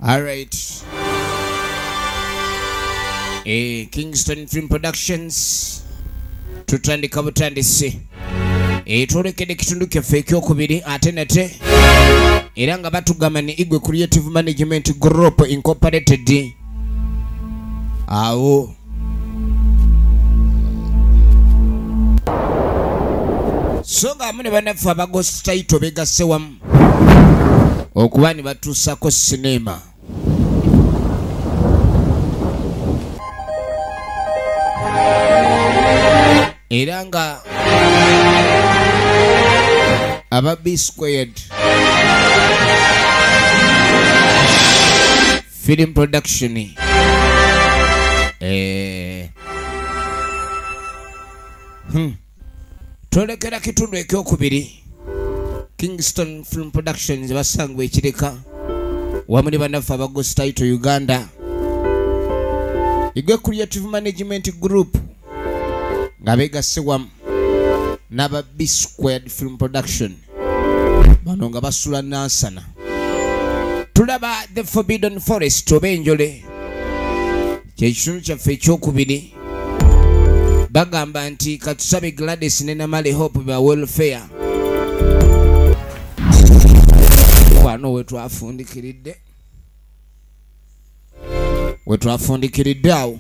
All right. Eh, Kingston Film Productions. Tutandika butandisi. etwolekedde ekitundu kyaffe ekyokubiri ate nate era nga batugamba ne igwe creative management group incorporated awo so nga amu ne banaffe abagositaito begasse wamu okuba ne batuusako sineema era nga aba b squared film production eh. hmm. twolekera kitundu ekyokubiri kingston film productions basangwa ekireka wamu ne banaffe abagositaito uganda igwe creative management group nga begasse wamu n'aba b squared film production bano nga basula nansana tulaba the forbidden forest oba enjole kyekitundu kyaffe ekyokubiri bagamba nti katusabe gladys ne namale hope ba welfare kwano wetwafundikiridde wetwafundikiridde awo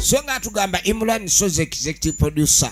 so nga atugamba imran soze executive producer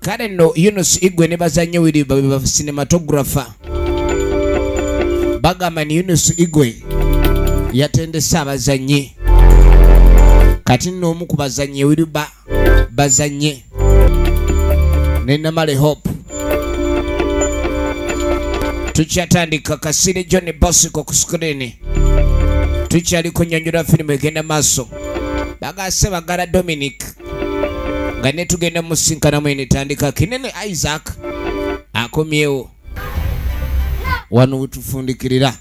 kale nno yunus igwe ne bazannyo wiri babe ba cinematographer bagamba ni yunus igwe yatendese abazannyi kati nno omu ku bazannyi wiri ba bazannye ne namale hope tukyatandika kasire john bosiko ku sikirini tukyali kunyonyola firimu egenda maaso bagase bagala dominic nga ne tugenda musinkanamu eno etandika kinene isaac akomyewo wano wetufundikirira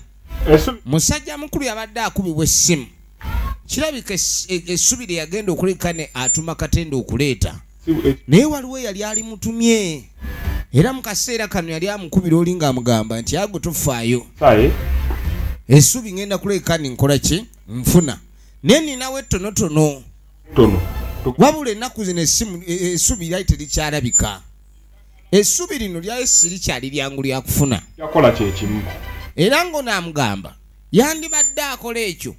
musajja mukulu yabadde akubibwa essimu kirabika e-, essubi lye yagenda okuleka ne atuma katenda okuleeta naye waliwo yali ali mutumye era mu kaseera kano yali amukubira oli ng'amugamba nti ago tofaayo essubi ngenda kuleka ne nkola ki nfuna naye ninawo ettonotono tono wabula ennaku zino esimu e, e, esubi lyali terikyalabika esubi lino lyali sirikyali lyangu lyakufuna yakola kyekimu era ngono amugamba yandibadde akola ekyo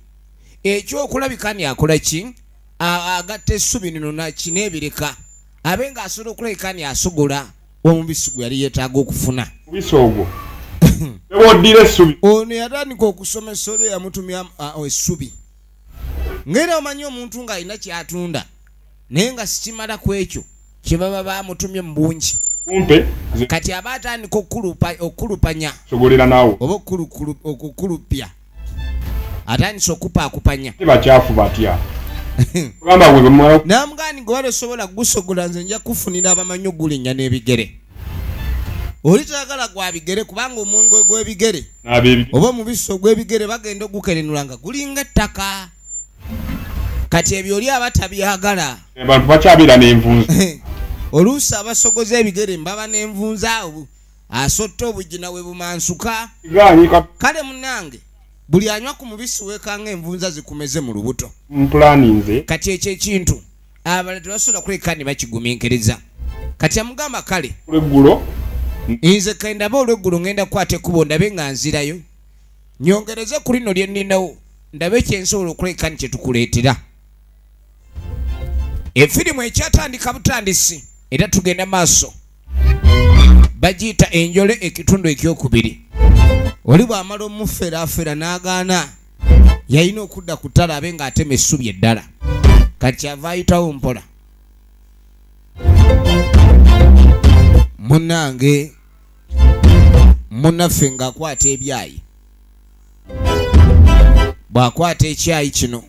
ekyokulabika ni akola ki agatta esubi lino naki nebireka abe nga asobola okulabika ni asogola omubisi gwe yali yetaaga okufuna mubisi ogwo ewoddira esubi ono yatandika okusoma esolo eyamutumya esubi ngera omanyi omuntu ng'alina kyatunda naye nga sikimala ku ekyo kye baba bamutumye mu bungi kati aba atandika okukulupanya oba okukulupya atandise okupaakupanya bakyafu batya namugani gwe wali osobola kugusogola nze nja kufunira abamanyi ogulinnya n'ebigere oli tayagala gwa bigere kubanga omwenge gw'ebigere oba omubisi ogw'ebigere bagenda ogukerenula nga gulinga ettaka kati ebyo oli aba tabyagala abantu bakyabeera n'envunza oluusi abasogoza ebigere mbaba n'envunza awo asotta obujina we bumansuka kale munange buli anywa ku mubisi weekanga envunza zikumeze mu lubuto kati ekyo ekintu abala tebasobola kuleka ne bakiguminkiriza kati amugamba kale olweggulo nze kendaba olweggulo ngenda kukwata ekkubo ndabe nga nzirayo nyongereze ku lino lye nninawo ndabe kyensobola okuleka ni kyetukuleetera efirimu ekyatandika butandisi era tugenda maaso bagiyita enjole ekitundu ekyokubiri oli bw'amala omuferaafera n'agaana yalina okudda ku ttale abe ng'atema essubi eddala kati kyava ayitawo mpola munange munaffe ng'akwata ebyayi bw'akwata ekyayi kino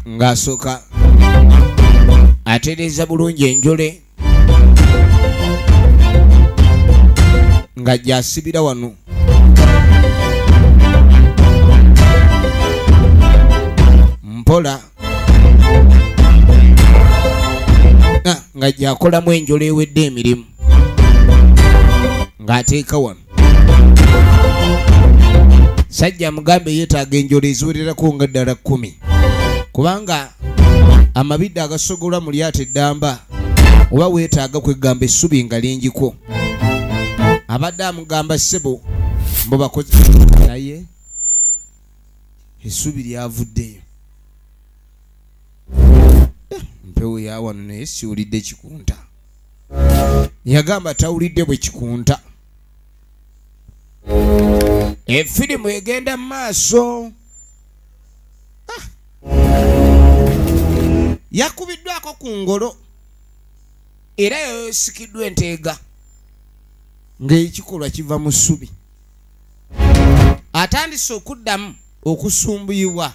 ng'asooka atereeza bulungi enjole nga gyasibira wano mpola ah, nga gyakolamu enjolo ewedde emirimu ng'ateeka wano sajja mugambe yetaaga enjolo eziwererako nga ddala kkumi kubanga amabidde agasogolwa mu lyato eddamba oba weetaaga kwegamba essubi nga lingiko abadde amugamba ssebo mbu bakozi naye essubi lyavuddeyo eh, mpewo yawano naye siwulidde kikunta yagamba tawulidde bwe kikunta efirimu egenda mu maaso ah. yakubiddwako ku ngolo era yayosikiddwa enteega ng'ekikolwa kiva mu ssubi atandise okuddamu okusumbuyibwa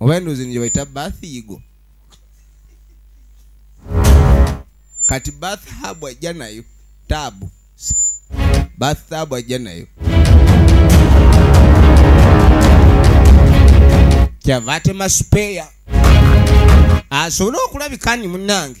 oba endoozi nje baita bath yigo kati bath habu ajja nayo taabu bath taabu ajja nayo kyava atema supeya asobole okulabika ni munange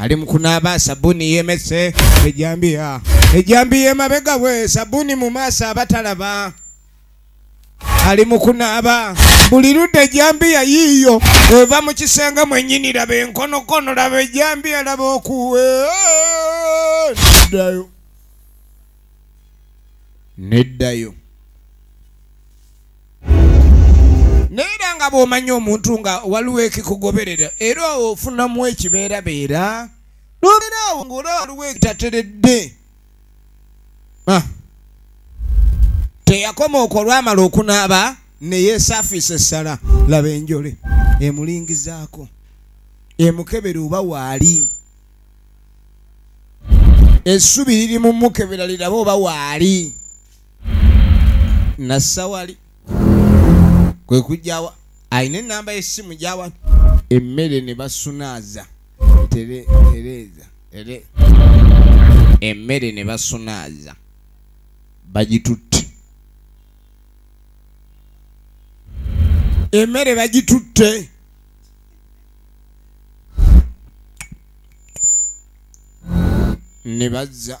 ali mukunaaba sabuni yemese ejambiya ejambiya emabega we sabuni mu maaso abatalaba ali mukunaaba buli ludde ejambiya yiiyo eva mu kisenge mwenyini laba enkonokono laba ejambiya laba okuwe dayo neddayo naye era nga bw'omanya omuntu nga waliwo ekikugoberera era ofunamu ekibeerabeera n'obeera awo ng'olaba waliwo ekitateredde ah. teyakoma okwo olwamala okunaaba ne yeesafiisa essala laba enjole emulingizaako emukebera oba waali essubi liri mu mukebera liraba oba waali nasawali kwe kujjawa alina enamba yesimu gyawa emmere ne basunaaza tereeza ere emmere ne basunaaza bagitutte emmere bagitutte ne bazza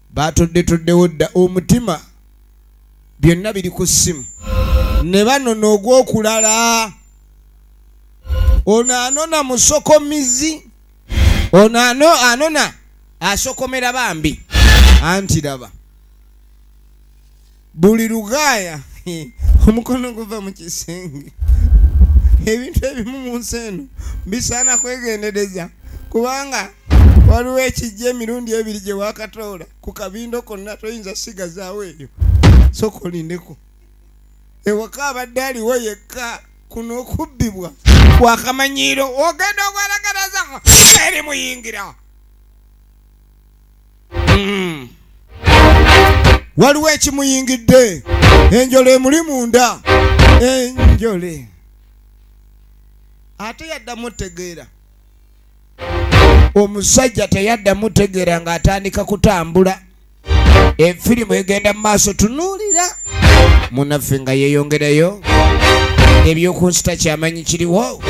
batoddetoddewo dda omutima byonna biri ku ssimu ne banona ogw'okulala ono anona musokomizi ono anona asokomera bambi anti laba buli lugaaya omukono guva mu kisenge ebintu ebimu mu nsi eno bisaana kwegendereza kubanga waliwo ekijja emirundi ebiri gye wakatoola ku kabindo konna toyinza sigazaawo eyo soka olindeko ewaka abadde aliwo yekka kuno okubbibwa kwakamanyiiro ogenda ogwalagalaza eri muyingira hmm. waliwo ekimuyingidde enjole emuli munda enjole ate yaddamu otegeera omusajja teyaddamu otegeera ng'atandika kutambula efirimu egenda mu maaso tunuulira munaffe nga yeyongerayo ebyokunsita kyamanyi kiriwo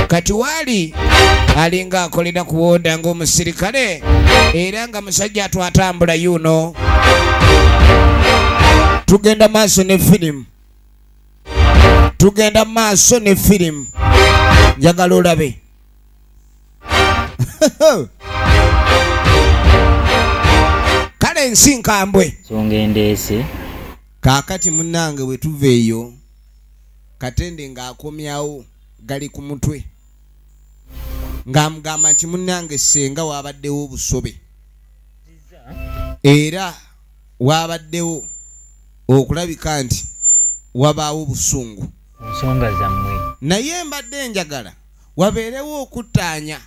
kati waali alinga akolera kuwonda ngaomusirikale era nga musajja atwatambula yuno tugenda maaso ne firimu tugenda maaso ne firimu njagala olabe kale ensi nkambwe songa endeese kaakati munnange bwe tuva eyo katende ng'akomyawo gali ku mutwe ng'amugamba nti munnange senga waabaddewo obusobe era waabaddewo okulabika nti wabaawo obusungu nsonga zammwe naye mbadde njagala wabeerewo okuttaanya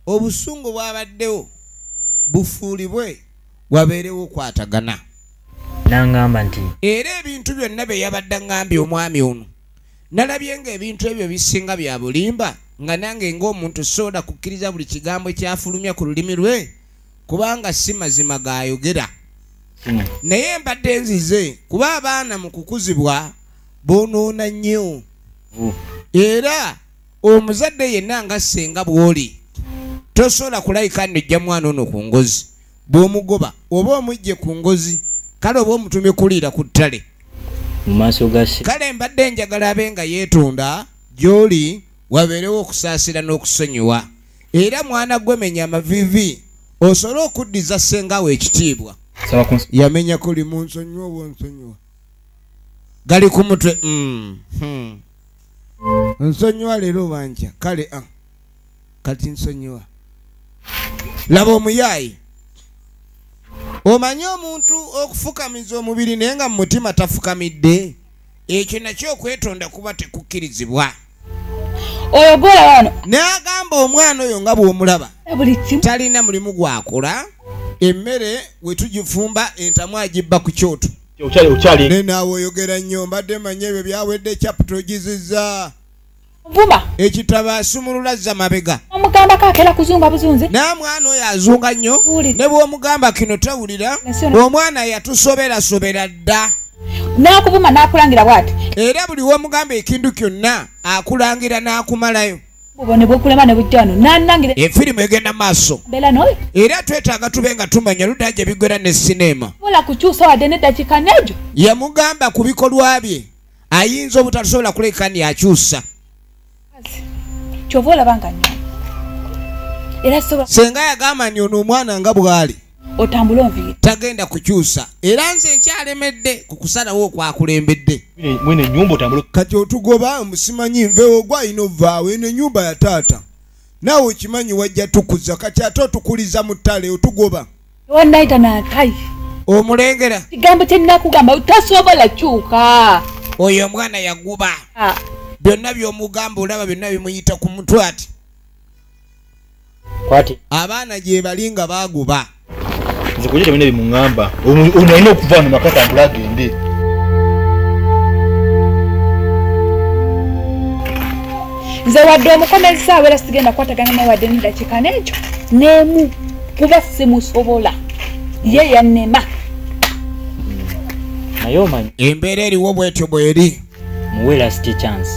obusungu bwabaddewo bufuulibwe wabeerewo okwatagana nangamba nti era ebintu byonna bye yabadde ngambye omwami ono nalabye nga ebintu ebyo bisinga bya bulimba nga nange ng'omuntu sooda kukkiriza buli kigambo ekyafulumya ku lulimi lwe kubanga si mazima gaayogera hmm. naye mbadde nzize kuba abaana mu kukuzibwa bonoona nnyo era omuzadde yenna nga ssenga bw'oli tosobola kulayika nojja mwana ono ku ngozi bw'omugoba oba omujje ku ngozi kale oba omutume kuliira ku ttale kale mbadde njagala abe nga yeetonda gy'oli wabeerewo okusaasira n'okusonyiwa era mwana gwemenya amavivi osobole okuddiza ssenga wo ekitiibwa yamenyako limu nsonyiwa obwonsonyiwa gali ku mutwe mm, hmm. nsonyiwa leero banja kale a ah, kati nsonyiwa laba omuyaayi omanyi omuntu okufukamiza omubiri naye nga mu mutima tafukamidde ekyo nakyo okwetonda kuba tekukkirizibwa oyo gwolaba wano n'agamba omwana oyo nga bw'omulaba talina mulimu gwakola emmere we tugifumba entamu agibba ku kyoto naye naawe oyogera nnyo mbadde manya ebyo byawedde capital ogizizza vuma ekitabo asumulula zza mabega omugambako akera kuzunga buzunzi naye mwana oyo azunga nnyo ne bw'omugamba kino tawulira omwana yatusoberasobera dda n'akuvuma n'akulangira bwati era buli womugamba ekintu kyonna akulangira n'akumalayo efirimu egenda maaso era twetaaga tube nga tumanya ludaa gye bigwera ne sineema yamugamba ku bikolwa bye ayinza obutatusobola kulekani akyusa kyova olaba nga nyo era soba senga yagamba nti ono omwana nga bwali otambule onviire tagenda kukyusa era nze nkyalemedde ku kusalawo okwakulembedde mwene nyumba otambule kati otugoba omusimanyi nvewo gwa ino vaawo eno enyumba ya taata naawe okimanyi wajja tukuza kati ate otukuliza mu ttale otugoba wanaita na kai omulengera kigambo kyenakugamba tasobola kyuka oyo omwana yaguba ah. byonna byomugamba olaba byonna bimuyita ku mutwe ati kwati abaana gyebali nga baguba nze kuyita byonna bimuŋamba ono alina okuva no makata mbula agende nze wadde omukomezisaawo era sigenda kukwatagana naye wadde nedakiika nekyo nemu kuba simusobola ye yanema naye omanyi embeera eriwo bwetyo bweri muwe last chance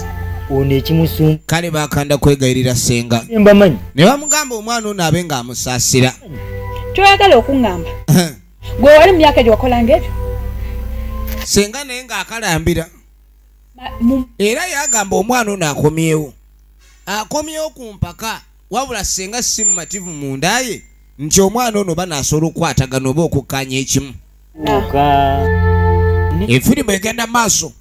ono ekimusum kale bakanda kwegayirira senga mbamanyi ne bamugamba omwana ono abe nga amusaasira kyoyagala okuŋŋamba gwe wali mumyaka egyo wakolanga ebyo senga naye ng'akalambira era yagamba omwana ono akomyewo akomyewo ku mpaka wabula senga si mumativu mundaye nti omwana ono oba nasobola okukwatagana oba okukkanya ekimu efirimu egenda maaso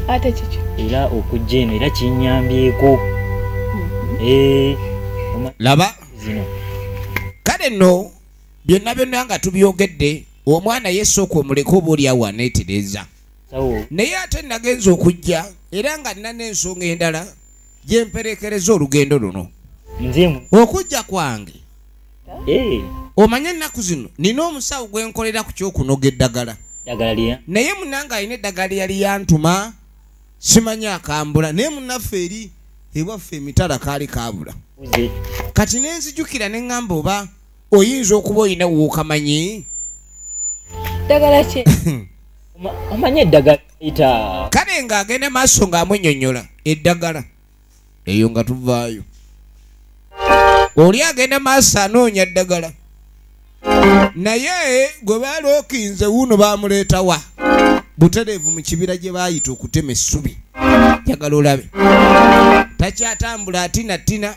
ate kiki era okujja eno era kinyambyeko mm-hmm. eh, laba zino kale no byonna byonna nga tubyogedde omwana yesooka omuleka oba oli awo aneetereza naye ate nagenza okujja era nga nina n'ensonga endala gye mperekereza olugendo luno okujja kwange eh. omanye ennaku zino nina omusawo gwe nkolera ku kyokunoga eddagala naye munange alina eddagala lyeyali yantuma simanyi akambula naye munaffe eri ewaffe emitala kaali kabula kati nenzijukira ne ŋŋamba oba oyinza okuba olina wookamanyi ddagala ki omanyi eddagala kale nga agenda maaso nga amunyonyola eddagala eyo nga tuvaayo oli agenda maaso anoonya ddagala naye gwe baalookinze wuuno baamuleetawa butereevu mu kibira gye baayita okutema essubi njagala olabe takyatambula atina tina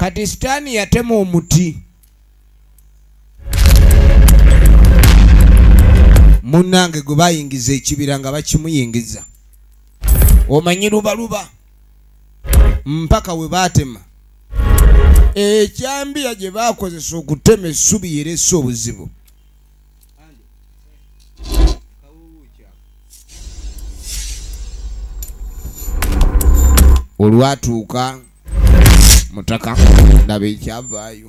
kati sitaani yatema omuti munnange gwe bayingiza ekibira nga bakimuyingiza omanyi lubaluba mpaka we baatema ekyambiya gye baakozesa okutema essubi yeresa obuzibu olwatuuka mutaka ndaba ekyavaayo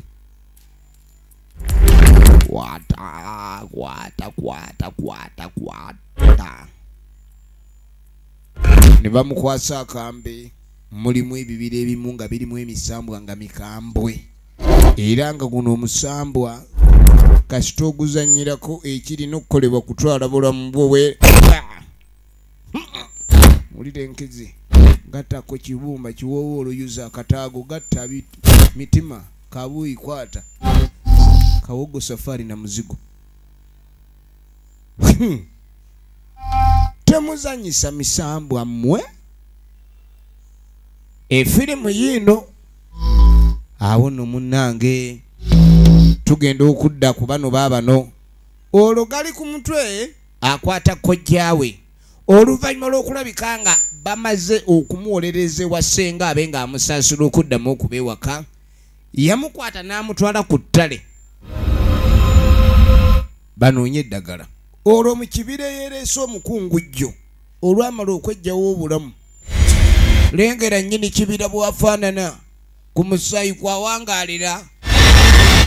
kwata kwata kwata kwata kwata ne bamukwasa akambe mulimu ebibira ebimu nga birimu emisambwa nga mikambwe era nga guno omusambwa kasita oguzanyirako ekirina okukolebwa kutwala bulamu bwowe wulira enkizi gattako kibumba kiwoowa oluyuza akataago gatta mitima kabuuyi kwata kawogo safaari na muzigo hmm. temuzanyisa misambwa mmwe efirimu yiino awo no munnange tugenda okudda ku bano baabano olwo gali ku mutwe akwata kojjaawe oluvannyuma lw'okulabika nga bamaze okumuwolereza ewa ssenga abe ng'amusaasula okuddamu okuba ewaka yamukwata n'amutwala ku ttale banoonye eddagala olwo mu kibira eyereese omukungujjo olwamala okweggyawo obulamu lengera nnyini kibira bwafaanana ku musaayi kwawangaalira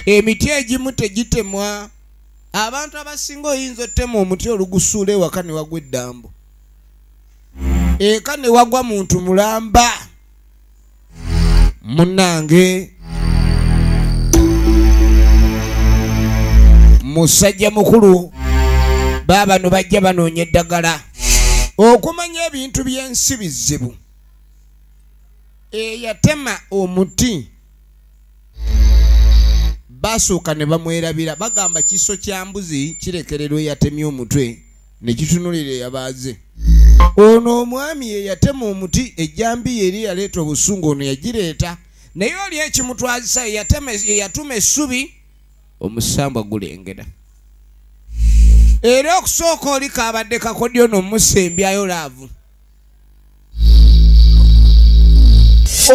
emiti egimu tegitemwa abantu abasinga oyinza ottema omuti olugusuula ewaka ne wagwa eddambo eka ne wagwa muntu mulamba munange musajja mukulu baabano bajja banoonya eddagala okumanya ebintu by'ensi bizibu eyatema omuti basooka ne bamwerabira bagamba kiso kya mbuzi kirekererwa eyatemye omutwe ne kitunulira eyabaaze ono omwami ye yatema omuti ejjambiya eri yaleeta obusungu ono yagireeta naye oli ekimutwazisa yatuma essubi omusambwa gulengera era okusooka oli kabadde kakodyo nomusembyayo laavu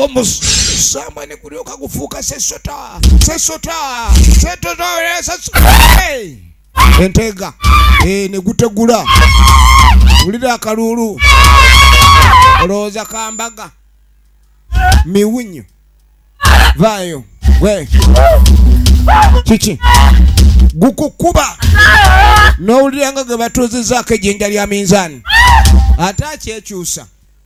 omusambwa ne gulyoka gufuuka sesota sesota setotoe enteega eh, ne gutegula wulira akaluulu olowooza kambaga miwunyo vaayo gwe kiki gukukuba n'owulira nga gwe batuuzizaako ejjinja lya minzaani ate akyekyusa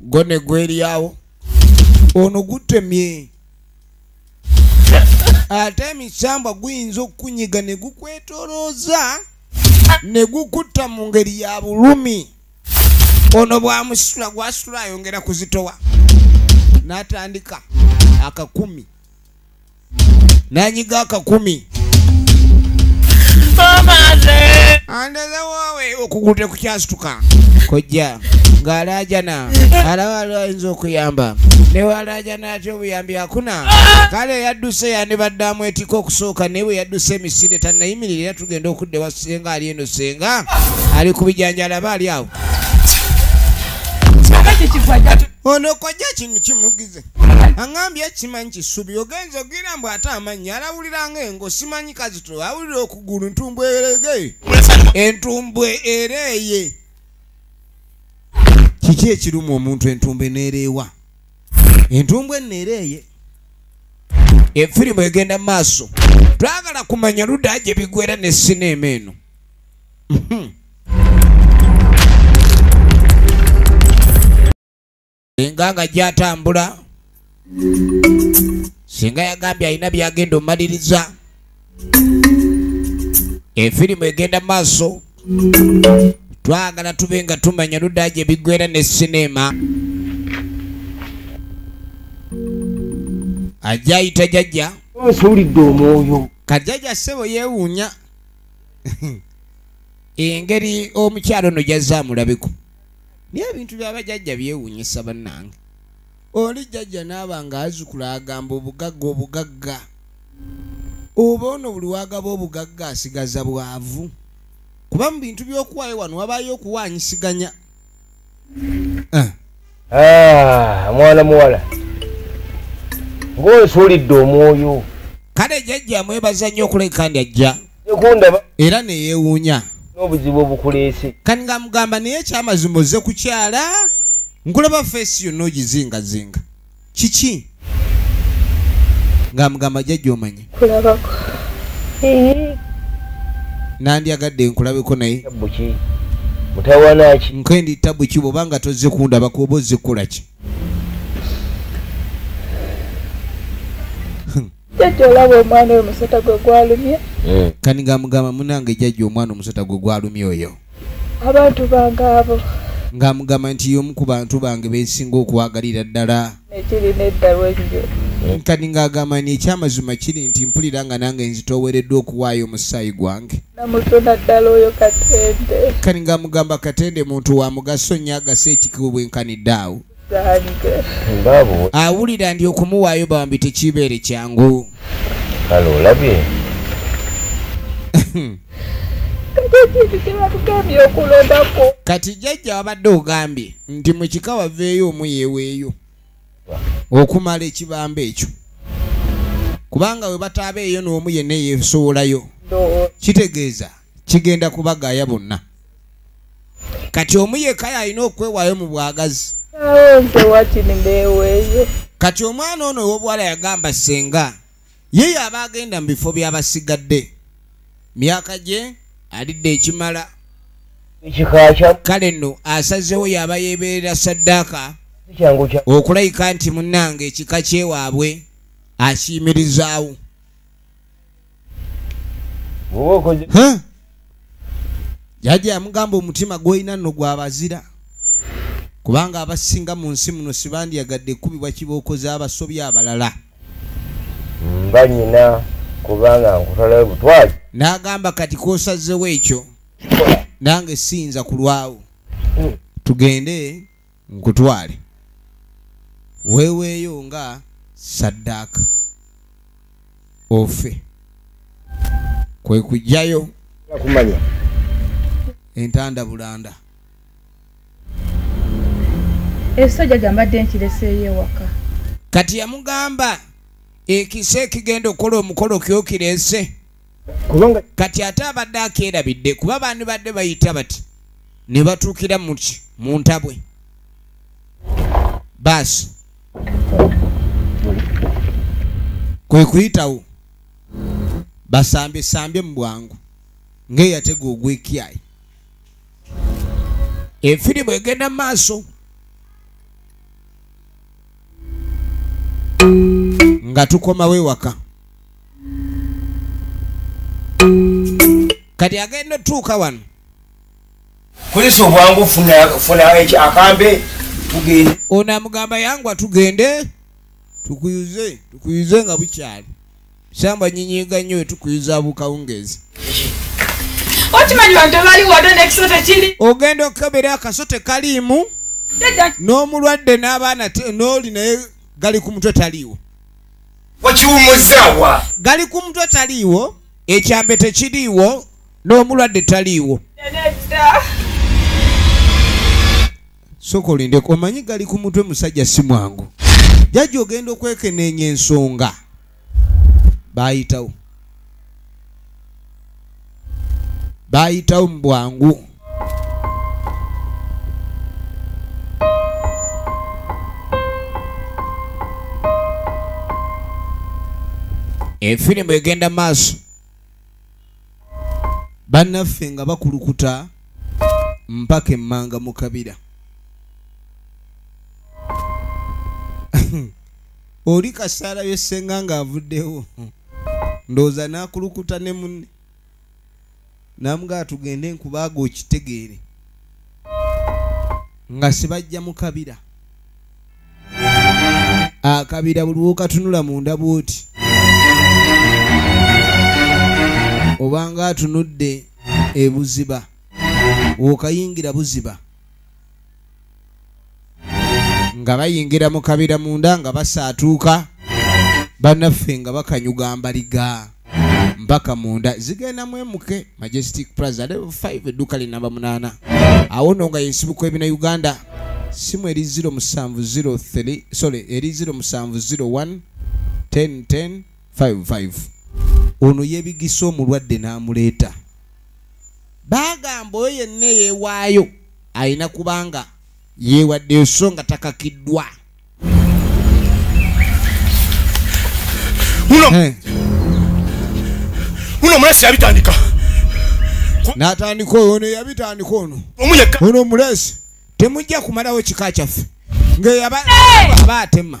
gwo ne gweriawo ono gutemye ate emisambwa guyinza okukunyiga ne gukwetolooza ne gukutta mu ngeri ya bulumi ono bwamusitula gwasitula ayongera kuzitowa n'atandika akakumi nanyiga akakumi andazawawe okugulu tekukyasituka kojja ng'alaajana alaba ali ayinza okuyamba newalaajana ati obuyambi akuna kale yadduse yandibadde amwetika okusooka naye bwe yadduse emisinde tanayimirira era tugenda okudda ewa senga ali eno senga ali ku bijanja alaba ali awo ono kojja kino kimugize aŋambye kimanyi kisubi ogenza ogira mbu ate amanyi alawuliranga engo simanyi kazito awulira okugulu ntumbwe erege entumbwe ereeye kiki ekiruma omuntu entumbwe nereewa entumbwe nereeye efirimu egenda mu maaso twagala kumanya ludaa gye bigwera ne sineema eno mhm. enga nga gyatambula singa yagambye alina byagenda omaliriza efirimu egenda maaso twagala tube nga tumanya ludaa gye biggwera ne sineema ajja ayita jajja nsuulidde omwoyo kajajja ssebo yeewuunya engeri omukyalo no jazza amulabeko naye ebintu byabajajja byewunyisa bannange oli jajja naaba nga azukula agamba obugagga obugagga oba ono buli wagaba obugagga asigaza bwavu kuba mu bintu byokuwaayo wano wabaayo okuwanyisiganya eh. ah, mwana muwala ngaosuulidde omwoyo kale jajja mwebaza nnyo okuleka ndi ajja era neyewuunya n'obuzibu obukuleese kati nga mugamba naye ekyamazima ozze kukyala nkulaba feesi yonna ogizingazinga kiki nga mugamba jajja omanya kulabako nandyagadde nkulabeko naye mutawanaki nkendi tabu ki bwoba nga tozze kundaba kuoba ozze kukolaki jajja olaba omwana oyo musota gwe gwalumye hmm. kani nga mugamba munange jajja omwana omusota gwe gwalumye oyo abantu bange abo ng'amugamba nti y'omu ku bantu bange bensinga okwagalira ddala ekirina eddalu ennyo nkani ng'agamba ni ekyamazima kiri nti mpulira nga nange nzitoowereddwa okuwaayo omusaayi gwange namutuna ddala oyo katende kani ng'amugamba katende muntu wa mugaso nnyo agasa ekikubu bwenkanidde awo awulira ndi okumuwaayo bambi tekibeere kyangu kale olabye kati jajja wabadde ogambye nti mukika waveeyo omu yeweeyo okumala ekibamba ekyo kubanga we bataabeeyo n'omu yenna yesowolayo kitegeeza kigenda kubagaaya bonna kati omu yekaya alina okwewaayo mu bwagazi kati omwana ono ow'obuwala yagamba senga ye yaba agenda mu bifo by'abasigadde myaka gye alidde ekimala kale nno asazewo yaba yeebeerera saddaaka okulayika nti munnange ekika kyewaabwe akiyimirizaawo jajja yamugamba omutima gwolina nno gwabazira kubanga abasinga mu nsi muno sibandyagadde kubibwa kibookoze abasobi abalala nga nyina kubanga nkutalayo butwali n'agamba kati kosazewo ekyo nange siyinza kulwawo hmm. tugende nkutwale weeweeyo nga saddaaka ofe kwe kujjayo kumanya entanda bulanda ekiso jaja mbadde nkireseeyo ewaka kati yamugamba ekise ekigenda okukola omukolo kyokirese kubanga kati ate abadde akeerabidde kuba baani badde bayita bati ne batuukira muki mu ntabwe baasi kwe kuyitawo basambesambye mu bwangu ng'eyatega ogw'ekyayi efirimu egenda mu maaso nga tukomawo ewaka kati agenda otuuka wano kozesa obwangu funa akambe tugende ono amugamba yangwa tugende tukuyuze tukuyuze nga bukyali samba nyinyiga nnyo wetukuyuza bukawungezi ogenda okukebera akaso tekaliimu n'omulwadde n'abaana n'oli naye gali ku mutwe taliiwo wakiwumuzaawa gali ku mutwe taliiwo ekyambe tekiriiwo n'omulwadde taliiwo soka olindeko omanyi gali ku mutwe musajja si mwangu jajja ogenda okwekeneenya ensonga baayitawo baayitawo mu bwangu efirimu egenda maaso bannaffe nga bakulukuta mpaka emmanga mu kabira oli kasaala yesenga nga avuddewo ndowooza nakulukuta ne munne namugaa tugende nkubaaga okitegeere nga sibajja mukabira akabira ah, buli wokatunula munda bwoti obanga atunudde ebuziba wokayingira buziba nga bayingira mu kabira munda nga basaatuuka banaffe nga bakanyuga mbaliga mpaka munda zigenda mwemuke majestic plaza level 5 edduuka linamba munaana awo no nga yensibuko ebina uganda simu eri 0703 sorry eri 0701 10 10 55 ono yebigisa omulwadde n'amuleeta baagamba oyo yenna eyeewaayo alina kubanga yeewaddeyo so nga takakiddwa muno eh. omulesi yabitandika natandika ono yabitandika ono ono omulesi temujja kumalawo kika kyaffe ngaaba atema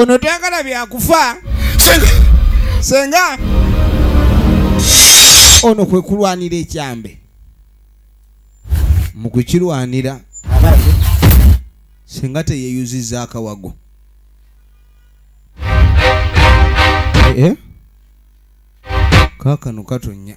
ono tayagala byakufa senga ono kwe kulwanira ekyambe mu kukirwanira senga teyeyuziza akawago eh? kakano katonya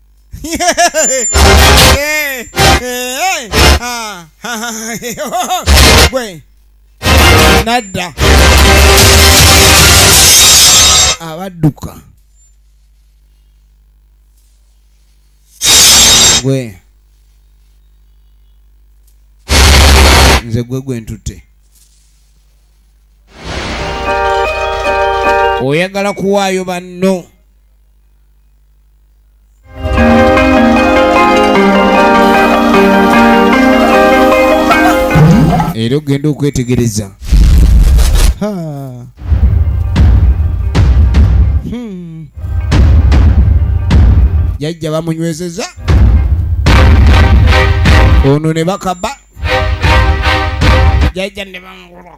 gwe nadda abadduka gwe nze gwe gwe ntutte oyagala kuwaayo banno era okugenda okwetegereza hmm. jajja bamunywezeza ono ne bakaba jajja ne bamugula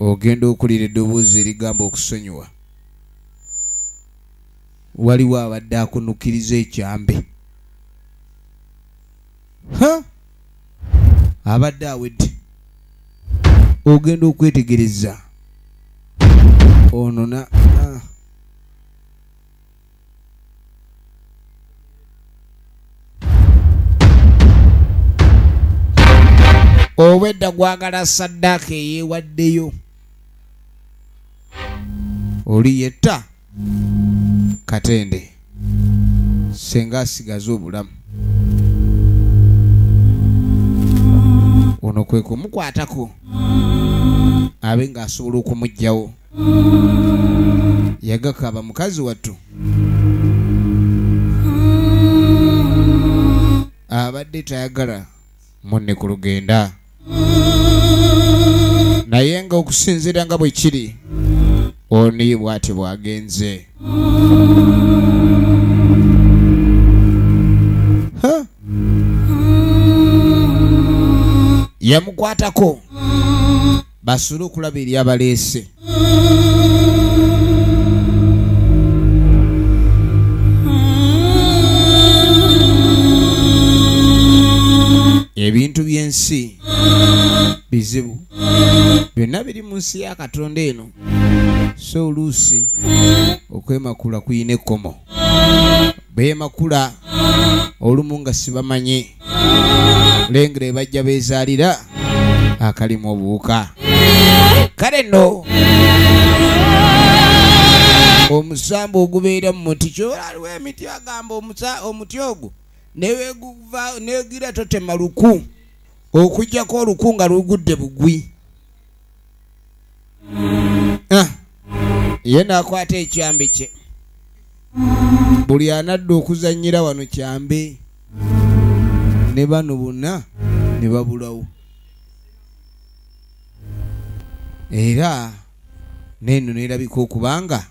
ogenda okulira eddoboozi erigamba okusonyiwa waliwo abadde akunukiriza ekyambe abadde awedde ogenda okwetegereza onona obwedda gwagala saddaaka eyeewaddeyo oli yetta katende senga asigaza obulamu ono kwe kumukwatako abe ng'asobola okumuggyawo yagakaba mukazi wattu abadde tayagala munne ku lugenda naye nga okusinziira nga bwe kiri oni bwati bwagenze yamukwatako basule okulaba eri abaleese ebintu by'ensi bizibu byonna biri mu nsi ya katonda eno so oluusi okwemakula kuyina ekkomo beemakula olumu nga sibamanyi lengere bajja bezaalira akalimu obuwuka kale nno omusamba ogubeera mu muti kyolaliwo emiti agamba omuti ogwo negira totema luku okujjako oluku nga lugudde bugwi Ah. ye nakwata ekyambi kye buli anadda okuzanyira wano kyambi ne bano bonna ne babulawo era neno nerabika okubanga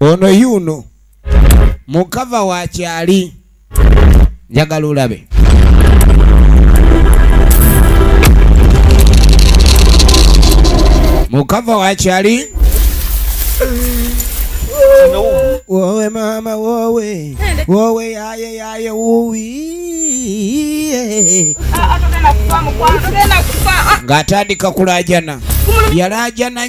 ono yuno mukava wakyali njagala olabe mukava wakyali wowe mama wowe wowe yaye yaye wuwi ng'atandika kulajana yalajana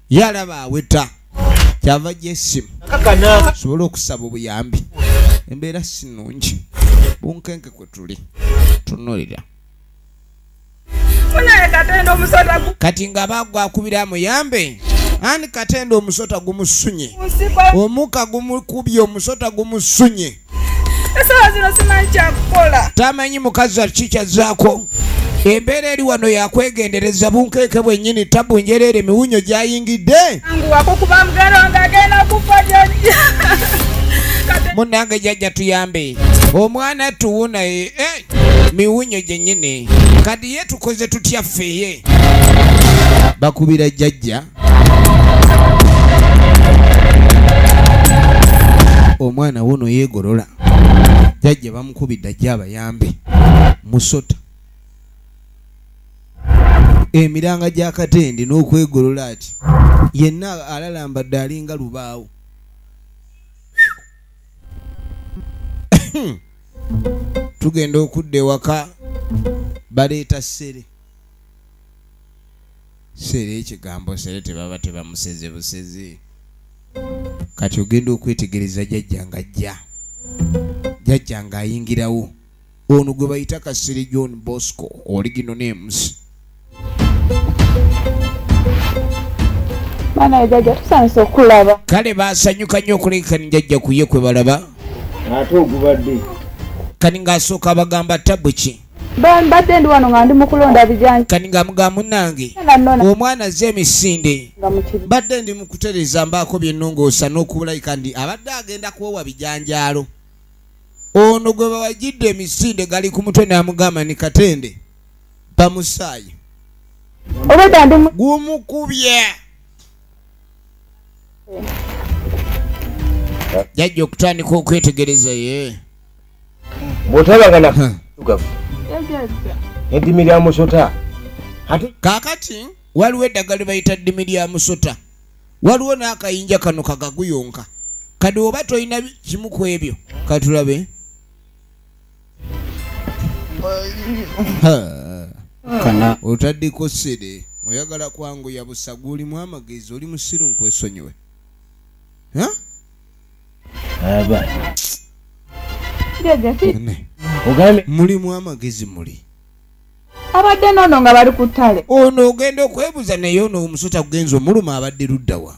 ye alaba aweta kyava gyesimu sobola okusaba obuyambi embeera sinungi bunkenke kwe tuli tunulira kati nga bagwakubira amuyambe ani katenda omusota gumusunye omuka gumukubye omusota gumusunye esawa zino simanyi kyakukola tamanyi mukazi ki kyazzaako embeera eri wano yakwegendereza bunkeeke bwennyini tabu njereere miwunyo gyayingidde munange jajja tuyambe omwana tuwunaye eh, miwunyo gyennyini kadi ye tukoze tutya ffeye bakubira jajja omwana wono yegolola jajja bamukubidde ajje abayambe musota emiranga gya katende n'okwegolola ati yenna alalambadde alinga lubaawo tugenda okudda ewaka baleeta ssere sere ekigambo sere tebaba tebamuseze busezi kati ogenda okwetegereza jajja nga ajja jajja nga ayingirawo ono gwe bayita kasiri john bosco oligino names kale basanyuka nnyo okulekani jajja kuye kwe balaba ate ogubadde kani ng'asooka abagamba tabu ki mbadde ndi wano nga ndi mukulonda bijanja kati nga mga munange omwana azze emisinde mbadde ndi mukutereza mbaako byennongoosa n'okubulayika ndi abadde agenda kuwowa bijanjaalo ono gwe bawajidde emisinde gali ku mutwe namugamba ni katende bamusaayi gumukubye jajja okutandika okwetegereza ye yeah. bw'otalanga na tugavu eddimi lya musota ate kaakati waliwo eddagala lye bayita ddimi lya musota waliwo n'akayinja kano kagaguyonka kadi oba tolina kimu ku ebyo katulabe otaddeko sede oyagala kwangu yabusa gwe olimu amagezi oli musiru nkwesonyiwe mulimu amagezi muli abadde nono nga bali ku ttale ono ogenda okwebuza naye ono omusota kugenza omuluma abadde luddawa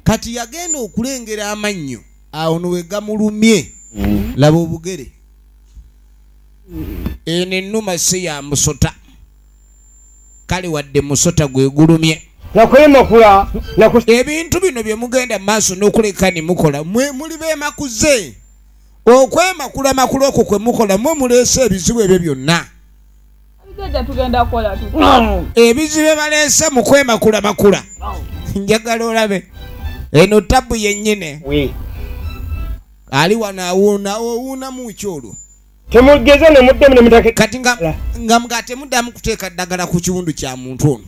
kati yagenda okulengera amannyo awo nowegamulumye mm. laba obugere eno ennuma si ya musota kale wadde musota gwegulumye nakwemakula ebintu bino byemugenda mumaaso nokuleka nimukola mwe muli bemakuze okwemakula makula okwo kwemukola mwe muleese ebizibu ebyo byonna ebizibu ebaleese mukwemakula makula njagala olabe eno tabu yenyine ali wano awuuna owuunamu ki olwo temugeza ne muddemu ne mutake kati nga nga mga temuddamu kuteeka ddagala ku kiwundu kya muntu ono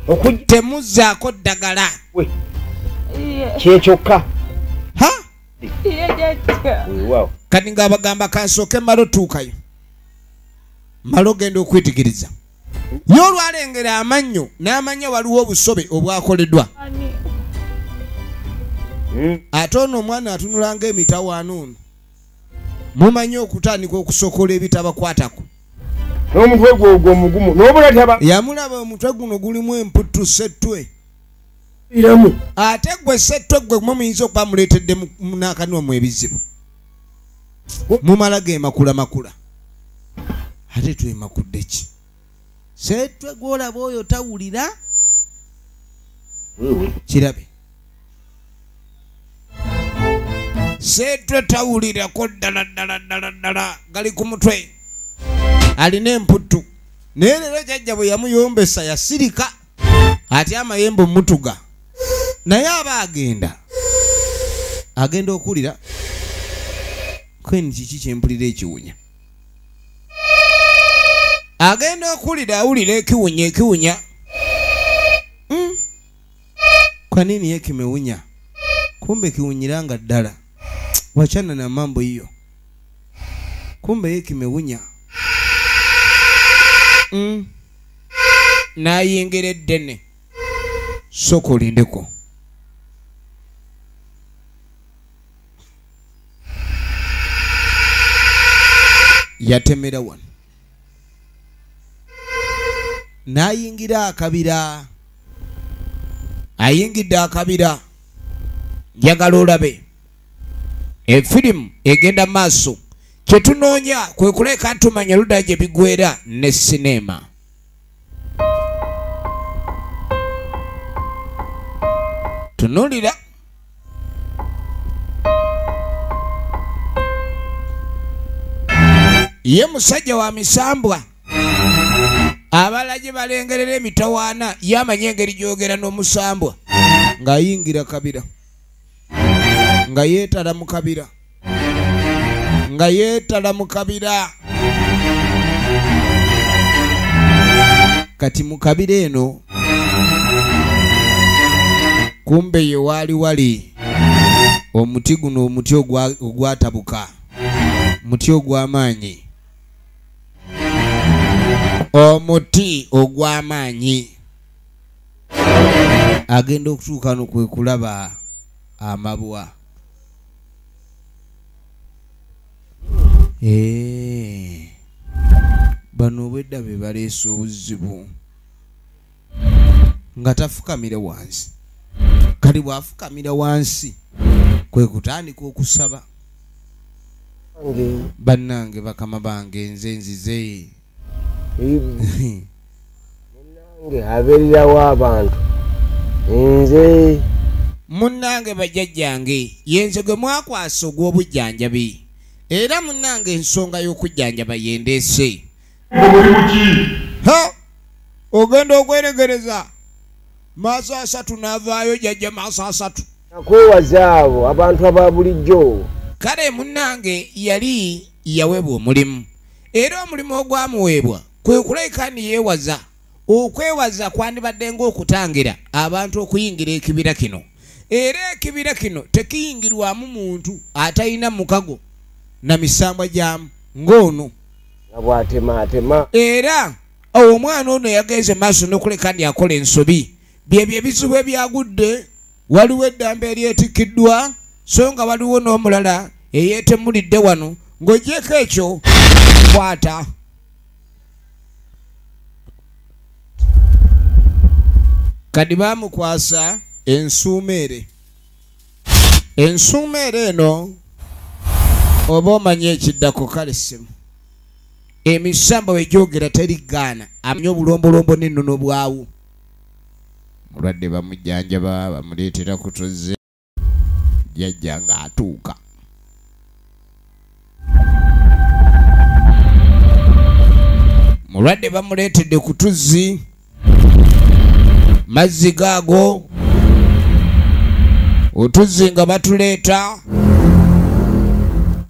okujja temuzzaako ddagala kyekyokka ha kati nga abagamba kansooke malo tuukayo malo genda okwetegereza ye olwalengera amannyo n'amanya waliwo obusobe obwakoledwa hmm. ate ono omwana atunulanga emitawaano ono mumanyi okutandika okusokola ebitabakwatako n'omutwe gwe ogwo omugumu n'obulataba yamulaba omutwe guno gulimu emputtu settwe iramu ate gwe settwe gwe mwe muyinza okuba muleetedde n'akanwa mu ebizibu mumala ge makula makula ate twemakudde ki seetwe gwolaba oyo tawulira kirabe seetwe tawulirako ddala ddala ddala ddala gali ku mutwe alina emputtu naye leero jajja bwe yamuyombesa yasirika ati amayembe omutuga naye aba agenda agenda okuwulira kweni kiki kyempulira ekiwunya agenda okulira awulira ekiwunya ekiwunya hmm? kwanini ye kimewunya kumbe kiwunyira nga ddala wachana na mambo hiyo kumbe ye kimewunya mm. nayingira eddene soka olindeko yatemera wano n'ayingira akabira ayingidde akabira njagala olabe efirimu egenda maaso kye tunoonya kwe kuleeka tumanya luda gye bigwera ne sineema tunulira ye musajja wa misambwa abala gye balengerera emitawaana ye amanyi engeri gyogera n'omusambwa ng'ayingira kabira nga yeetala mu kabira nga yeetala mu kabira kati mu kabira eno kumbe ye waali wali omuti guno omuti ogwatabuka muti ogw'amaanyi omuti ogw'amaanyi agenda okutuuka no kwe kulaba amabwa eh. bano obwedda be baleesa obuzibu nga tafukamire wansi kati bwafukamira wansi kwe kutandika okusaba bannange bakama bange nze nzize munange abererawo abantu nze munange bajajjange yenze gwe mwakwasa ogw'obujjanjabi era munange ensonga y'okujjanjaba yendeese ogenda okweregereza maaso asatu n'avaayo jajja maaso asatu nakwewaza abo abantu aba bulijjo kale munange yali yawebwa omulimu era omulimu ogwamuweebwa kwe kulabika ni yeewaza okwewaza kwandibadde ng'okutangira abantu okuyingira ekibira kino era ekibira kino tekiyingirwamu muntu atalina mukago na misambwa gyamu ng'ono era omwana ono yagenze maaso n'okuleka ndi akola ensobi byebyo ebizibu ebyagudde waliwo eddamba eryetikkiddwa so nga waliwo n'omulala eyeetemulidde wano ng'ogyeko ekyo kwata kadi baamukwasa ensuumeere ensuumeere eno oba omanyi ekiddako kale simu emisamba wegyogera teri gaana amanya obulombolombo n'ennono bwawo mulwadde bamujjanjaba bamuleetera kutuzze jajja ng'atuuka mulwadde bamuleetedde ku tuzzi mazzi gaago otuzzi nga batuleeta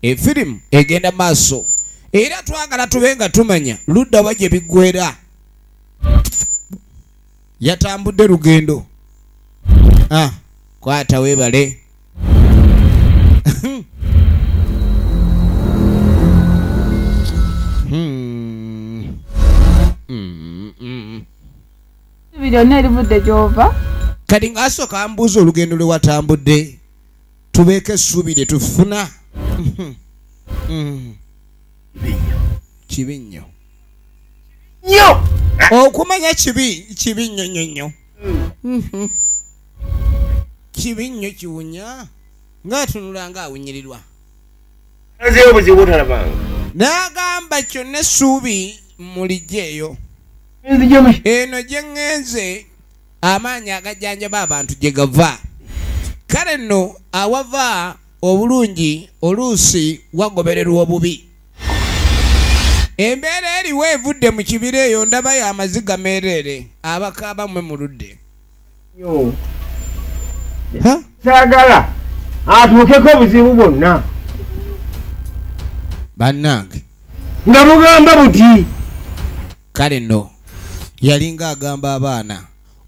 efirimu egenda maaso era twagala tube nga tumanya luddawa gye biggwera yatambudde lugendo ah, kwata webale byonna erivudde gyova kati ngaasooka ambuuza olugendo lwe watambudde tubeeko essuubi lye tufuna kibi nnyo nyo okumanya kibi kibi nyo nyo nyo mm-hmm. kibi nyo kiwunya ngaatunula nga awunyirirwa n'agamba kyonna essuubi mulijja eyo eno gye ŋŋenze amaanyi agajjanjaba abantu gye gava kale nno awava obulungi oluusi wagobererwa obubi embeera eriwo evudde mu kibira eyo ndaba yo amaziga meereere abakaaba mwe muludde saagala atuukeko obuzibu bwonna bannange nga mugamba buti kale no yalinga agamba abaana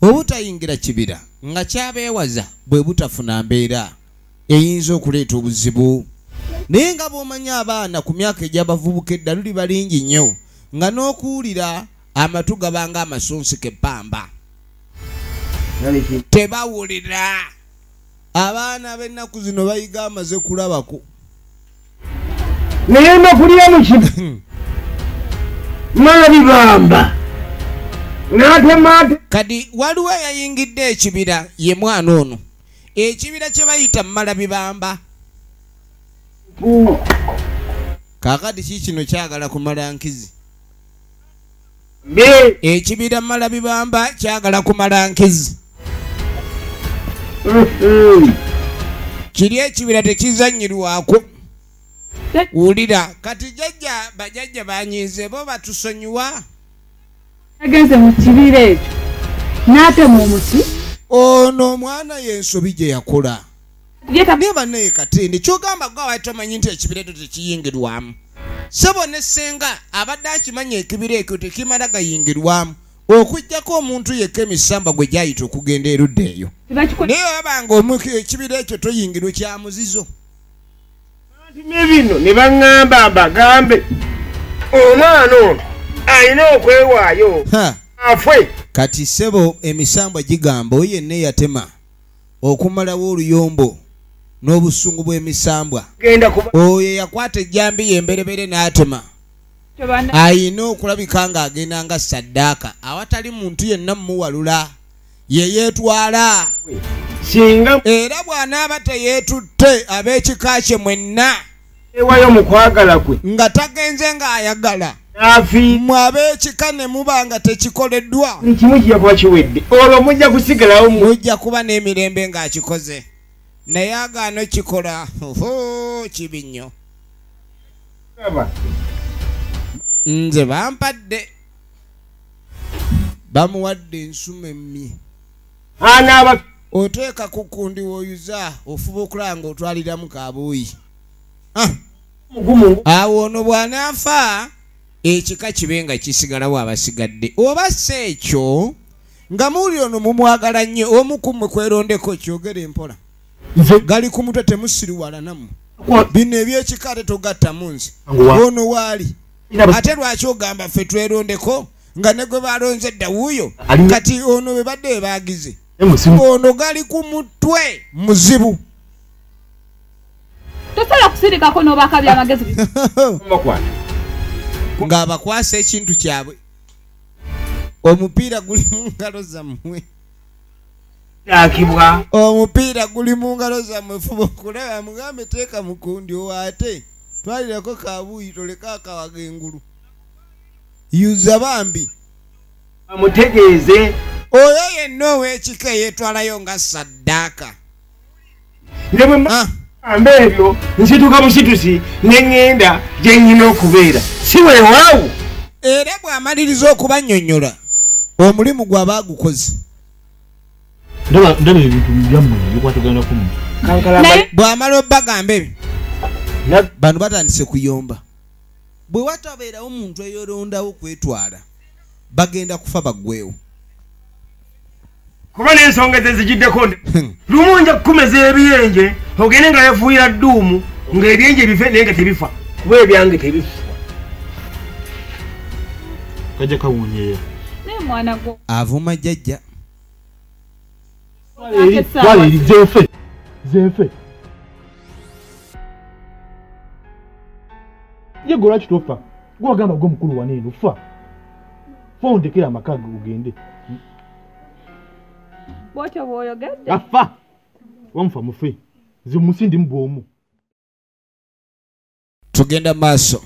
obutayingira kibira nga kyabeewaza bwe butafuna mbeera eyinza okuleeta obuzibu naye nga bw'omanyi abaana ku myaka egy'abavubuka edda luli balingi nnyo nga n'okuwulira amatu gabanga amasonsi kebbamba tebawulira abaana b'ennaku zino bayiga amaze kulabako naye nokulya mukino mabibamba kati waliwo eyayingidde ekibira ye mwana ono ekibira kye bayita mumala bibamba kakati ki kino kyagala kumala nkizi ekibira mumala bibamba kyagala kumala nkizi mm-hmm. kiri ekibira tekizanyirwako wulira kati jajja bajajja banyiize bo batusonyiwa yagenze mu kibira ekyo n'atema omuti ono omwana y'ensobi gye yakola naye banaye katindi kyogamba gwe awali tomanyi nti ekibira ekyo tekiyingirwamu sebo ne ssenga abadde akimanyi ekibira ekyo tekimala gayingirwamu okujjako omuntu yekka emisamba gwe gyayita okugenda erudda eyo naye wabanga ekibira ekyo toyingirwe kyamuzizo ne bino ne baŋŋamba mbagambe omwana ono alina okwewaayo afwe kati ssebo emisambwa gigamba oyo yenna eyatema okumalawo oluyombo n'obusungu bw'emisambwa oyo eyakwata ejjambi ye emberebere n'atema alina okulabika ng'agenda nga saddaaka awatali muntu yenna mumuwalula ye yeetwala singa era bw'anaaba teyeetutte ab'ekika kye mwenna ewayo mu kwagala kwe nga tagenze ng'ayagala mwe ab'ekika ne muba nga tekikoleddwa kimu kijja kuba kiwedde olwo mujja kusigalawo mujja kuba n'emirembe ng'akikoze naye agaano kikola kibi nnyo nze bampadde bamuwadde ensuma emmi anaaba oteeka ku kundi woyuza ofuba okulaba nga otwaliramu kabuuyi ah! awo ono bw'anaafa ekika kibe nga kisigalawo abasigadde oba si ekyo nga muuli ono mumwagala nnyo omu ku mmwe kwerondeko kyogere mpola gali ku mutwe temusiriwalanamu bino ebyekika ate togattamu nze ono waali ate lwaki ogamba ffe twerondeko nga ne gwe balonze dda wuuyo kati ono bwe badde bebaagize ono gali ku mutwe muzibu tosobola kusirikako n'obaka byamagezi ng'abakwasa ekintu kyabwe omupiira guli mu ngalo zammwe akibwa omupiira guli mu ngalo zammwe fuba okulaba mugambe teeka mukundi owaate twalirako kabuuyi toleka akawaga engulu yuza bambi amutegeeze oyo yenna ow'ekika yetwalayo nga saddaaka ne bwe ah. mamba ebyo nsituka musitusi ne ŋŋenda gye nnyina okubeera si weewaawo era bw'amaliriza okubannyonnyola omulimu gwaba agukoze bw'amala obagamba ebyo bano batandise kuyomba bwe watabeerawo omuntu eyorondawo kwetwala bagenda kufa baggwewo kuba n'ensonga ze zigiddeko nde hmm. lumu nja kukumeza ebiyenje ogende nga yafuuyira dduumu ng'ebyenje bife naye nga tebifa kuba ebyange tebifa kajja kawunyeya avuma jjajja twala eri zefe zefe ye gwe lwaki tofa gwagamba gwe omukulu waneeno fa Fo ondekera amaka ge ogende. Bwotyo bwoyogedde. Afa. Wamufa mufe. Nze munsi ndi mu bwomu. Tugenda maaso.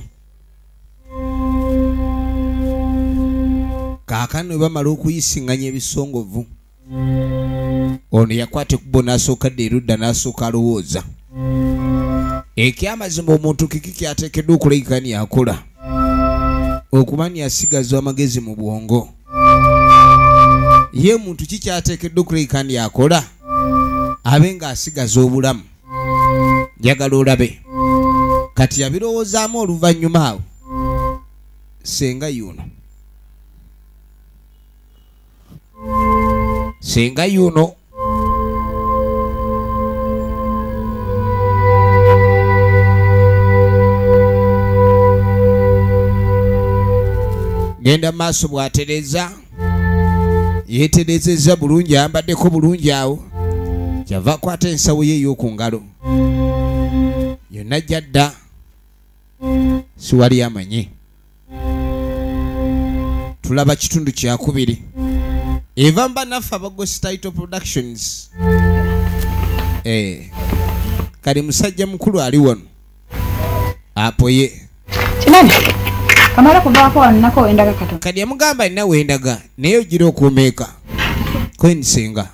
Kaakano bwe bamala okuyisinganya ebisongovu. ono yakwata ekubbo n'asooka dda erudda n'asooka alowooza ekyamazima omuntu kiki kyateekeddwa okulagika ni akola okuba ni asigazwa amagezi mu bwongo ye muntu ki kyateekeddwa okulagika ni akola abe ng'asigaza obulamu njagala olabe kati yabirowoozaamu oluvannyuma awo senga yuno singa yuno genda maaso bwatereza yeterezeza bulungi ayambaddeko bulungi awo kyava akwata ensawo ye ey'oku ngalo yonna jadda siwali amanyi tulaba kitundu kyakubiri eva mba naffe abagosi title productions eh, kali musajja mukulu ali wano apoye kadi yamugamba alina wendaga naye ogira okuumeeka kwensinga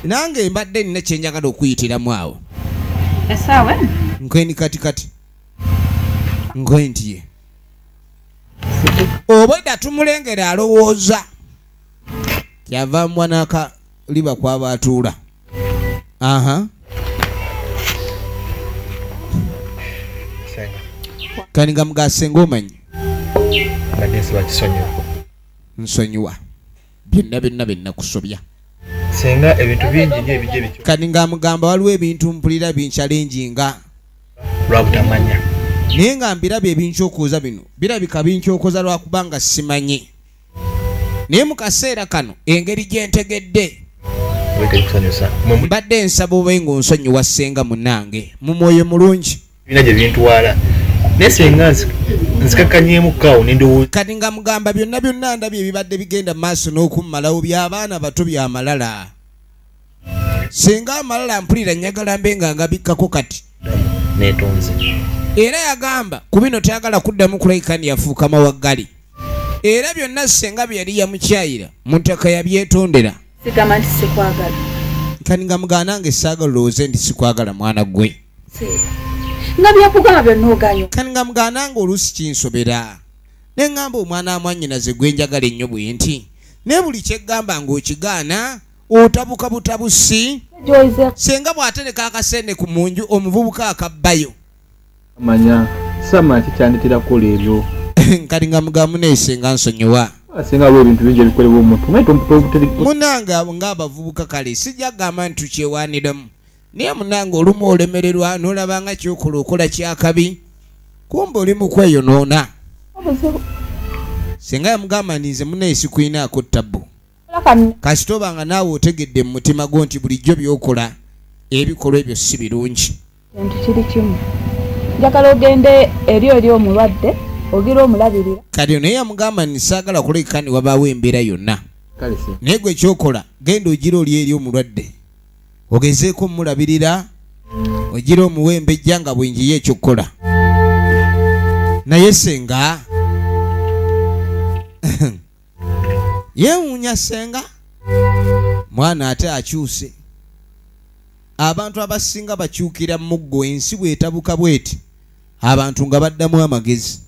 nange mbadde nina kyenjagala okuyitiramu awo nkweni katikati ngointie obwedda tumulengera alowooza kyava mwanaka liba kwaba atuula aha kandi nga mugasenga omanyi nsonyiwa byonna byonna byenakusobya senga ebintu bingi nyo ebijja bityo kati nga mugamba waliwo ebintu mpulira binkyalengi nga lwabutamanya naye nga mbirabye ebinkyokoza bino birabika binkyokoza lwakubanga simanyi naye mu kaseera kano engeri gyentegedde mbadde nsaba obe nga onsonyiwa ssenga munange mu mwoyo mulungi bina gye bintwala naye senga nzikakanyeemu kaawo nendowooza kati nga mugamba byonna byonna ndabye ebibadde bigenda mu maaso n'okummalawo by'abaana bato byamalala singa amalala mpulira njagala mbe nga ngabikkako kati netonze era yagamba ku bino tayagala kuddamu kulaikani yafuuka mawaggali era byonna senga bye yali yamukyayira mu ntaka yabyetondera sigamba nti sikwagala kani nga mugaanange saagala olowooze nti sikwagala mwana gwe nga byakugamba byonna oganyo kani nga mugana nga oluusi kinsobera ne ŋŋamba omwana amwannyinaze gwe njagala ennyo bwe nti ne buli kyeggamba ng'okigaana otabuka butabusi senga bw'atereka akasene ku munju omuvubuka akabbayo manya sama kikyandikira kukola ebyo kati nga mugamu nesenga nsonyiwa asingawo ebintu bingi ebikolebwa omuntu munanga ng'abavubuka kale sijja kugamba nti tukyewaniramu naye munange olumu olemererwa nolaba nga kyokola okola kyakabi kumba oli mukweyonoona singa yamugamba nti nze munaye sikulinaako tabbu kasita oba nga naawe otegedde mu mutima gwo nti bulijjo byokola ebikolwa ebyo si birungi kintu kiri kimu njagala ogende eri eri omulwadde ogira omulabirira kati naye yamugamba nti saagala kulekani wabaawo embeera yonna naye gwe kyokola genda ogira oli eri omulwadde ogezeeko omulabirira ogira omuwembejja nga bwenjiyo ekyokukola naye senga yewuunya senga mwana ate akyuse abantu abasinga bakyukira muggo ensi bwetabuka bweti abantu nga baddamu amagezi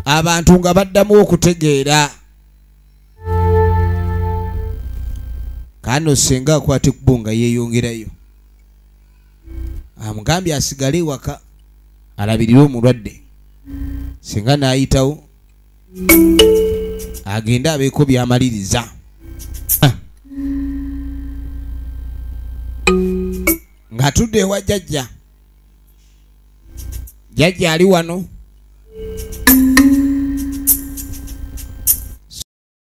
abantu nga baddamu okutegeera kano senga akwate kubunga yeyongerayo amugambye asigale ewaka alabirire omulwadde senga nayitawo agende abeeko byamaliriza ah. nga tudde ewa jajja jajja ali wano